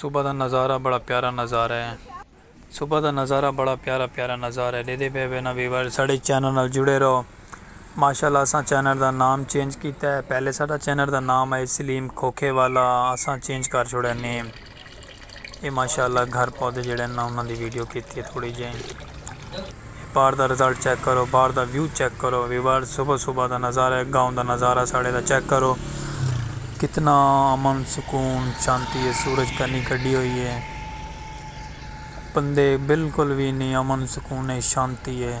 صبح دا نظارہ بڑا پیارا نظارہ ہے۔ صبح دا نظارہ بڑا پیارا پیارا نظارہ ہے ڈیدے پے وے نا ویورز ساڈے چینل نال جڑے رہو ماشاءاللہ اساں چینل دا نام چینج کیتا ہے پہلے ساڈا چینل دا نام ہے سلیم کھوکھے والا اساں چینج کر چھوڑا نیم اے ماشاءاللہ گھر پودے جڑے نا انہاں دی ویڈیو کیتی ہے تھوڑی جئیں۔ اے باہر دا رزلٹ چیک کرو باہر دا ویو چیک کرو ویورز صبح صبح دا نظارہ ہے گاؤں دا نظارہ ساڑے دا چیک کرو کتنا امن سکون شانتی ہے سورج کنی کڈی ہوئی ہے بندے بالکل بھی نہیں امن سکون ہے شانتی ہے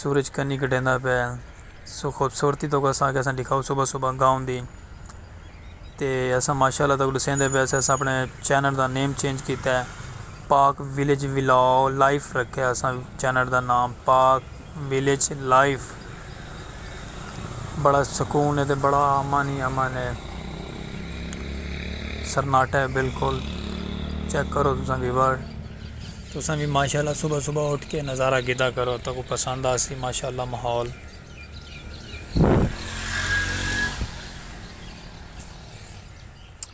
سورج کنی کٹیندا پے سو خوبصورتی تو اساں کے اساں دکھاؤ صبح صبح گاؤں دی تے اساں ماشاءاللہ تاں گلو سیندے پے اساں اپنے چینل دا نیم چینج کیتا ہے پاک ویلیج ولاگ لائف رکھے اساں چینل دا نام پاک ویلیج لائف بڑا سکون ہے تے بڑا امن ہی امن ہے سرناٹا ہے بالکل چیک کرو تساں ویور۔ تساں وی ماشاءاللہ صبح صبح اٹھ کے نظارہ گھدا کرو تہاکوں پسند آسی ماشاءاللہ ماحول۔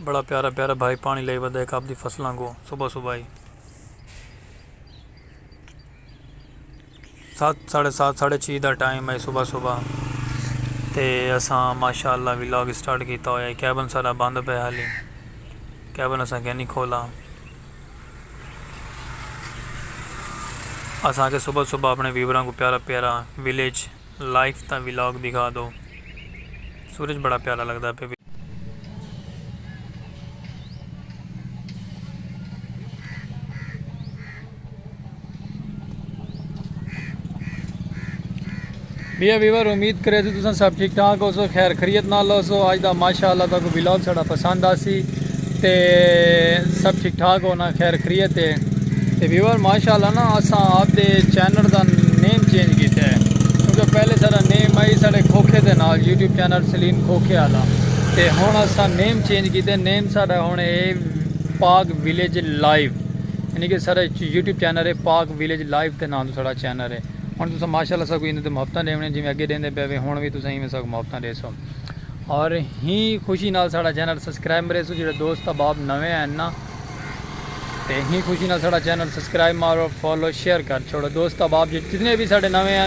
بڑا پیارا پیارا بھائی پانی لئی ودا ہک آپ دی فصلاں کوں صبح صبح ہی۔ ست ساڑھے ست ساڑھے چھی دا ٹائم ہئی صبح صبح تے اساں ماشاءاللہ ولاگ اسٹارٹ کیتا ہویا ہئی کیبن ساڈا بند پئے ہالی کیبن اساں کینی کھولا اساں آکھیا صبح صبح اپنے ویوراں کوں پیارا پیارا ولیج لائف دا ولاگ دکھا دو۔ سورج بڑا پیارا لگدا پے۔ ڈیئر ویور امید کرے تساں سب ٹھیک ٹھاک ہوسو خیر خریت نال ہوسو اج دا ماشاءاللہ تہاکوں ولاگ ساڈا پسند آسی تے سب ٹھیک ٹھاک ہو نا خیر خریت ہے تے ویور ماشاءاللہ نا اساں آپ دے چینل دا نیم چینج کیتا ہے کیونکہ پہلے سارا نیم آئی سارے کھوکھے دے نال یوٹیوب چینل سلیم کھوکھے آلا تے ہن اساں نیم چینج کیتا ہے نیم سارا ہن اے پاک ویلیج لائیو یعنی کہ سارا یوٹیوب چینل ہے پاک ویلیج لائیو دے نام تو سارا چینل ہے ہن تساں ماشاءاللہ سا کوئی اندے تے محبتاں دیونے جویں اگے دیندے پے وے ہن وی تساں ایویں سا محبتاں دے سو اور ہی خوشی نال ساڑا چینل سبسکرائب مرے سو جڑے دوست احباب نویں ہیں نا تے ہی خوشی نال ساڑا چینل سبسکرائب مارو فالو شیئر کر چھوڑو دوست احباب جتنے بھی ساڑے نویں ہیں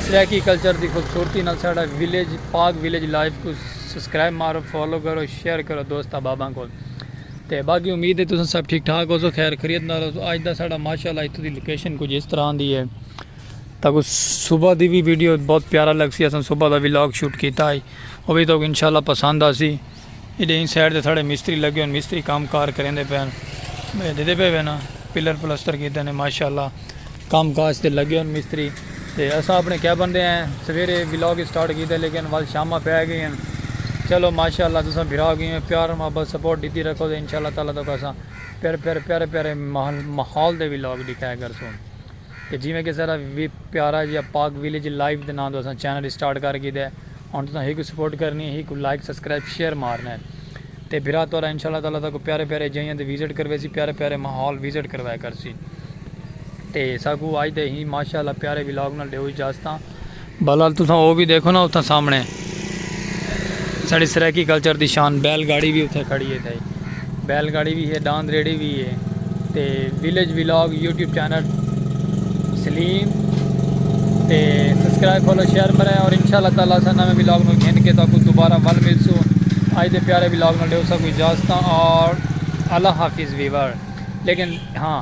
سریکی کلچر دی خوبصورتی نال ساڑا ویلیج پاک ویلیج لائف کو سبسکرائب مارو فالو کرو شیئر کرو دوست احباباں کو تے باقی امید ہے تساں سب ٹھیک ٹھاک ہو سو خیر خریت نال ہو سو اج دا ساڑا ماشاءاللہ اتھوں دی لوکیشن کچھ اس طرح دی ہے تاکو صبح دی بھی ویڈیو بہت پیارا لگ سی اساں صبح دا ویلاگ شوٹ کیتا آئی وہ بھی تاکو انشاءاللہ پسند آ سی ایڈے این سائڈ دے ساڑے مستری لگے ہوں مستری کام کار کریں دے پہن میں دیدے پہ وینا پلر پلستر کیتے ہیں ماشاءاللہ کام کاج دے لگے ہوں مستری تے اساں اپنے کیا بندے ہیں سویرے ویلاگ سٹارٹ کیتے لیکن وال شامہ پہ آئے گئے ہیں چلو ماشاءاللہ تساں بھرا گئے ہیں پیار محبت سپورٹ دیتی رکھو دے انشاءاللہ تعالیٰ تو کساں پیر پیر پیر پیر محال دے ویلاگ دکھائے گرسوں تے جیویں کسے دا وی پیارا جیہا پاک ویلیج لائیو دے ناں توں اساں چینل اسٹارٹ کر گھیدا ہے ہن تساں ہیکوں سپورٹ کرنی ہے ہیکوں لائک سبسکرائب شیئر مارنا ہے تے بھرا تہاڈا انشاء اللہ تعالی ساکوں پیارے پیارے جیہاں تے وزٹ کرویسی پیارے پیارے ماحول وزٹ کروایا کرسی تے ساکوں اج دے ہی ماشاء اللہ پیارے ولاگ نال ڈیو اجازتاں۔ بہرحال تساں او وی ڈیکھو نا اتھاں سامنے ساڈی سرائیکی کلچر دی شان بیل گاڑی وی اتھے کھڑی ہے تھئی بیل گاڑی وی ہے ڈاند ریڑھی وی ہے تے village vlog YouTube channel Salim تے سبسکرائب فالو شیئر مرے اور انشاءاللہ تعالی اساں نویں ولاگ نو گھن کے تاکو دوبارہ ول ملسو اج دے پیارے ولاگ نو ڈیو سا کوئی اجازت اور اللہ حافظ ویور لیکن ہاں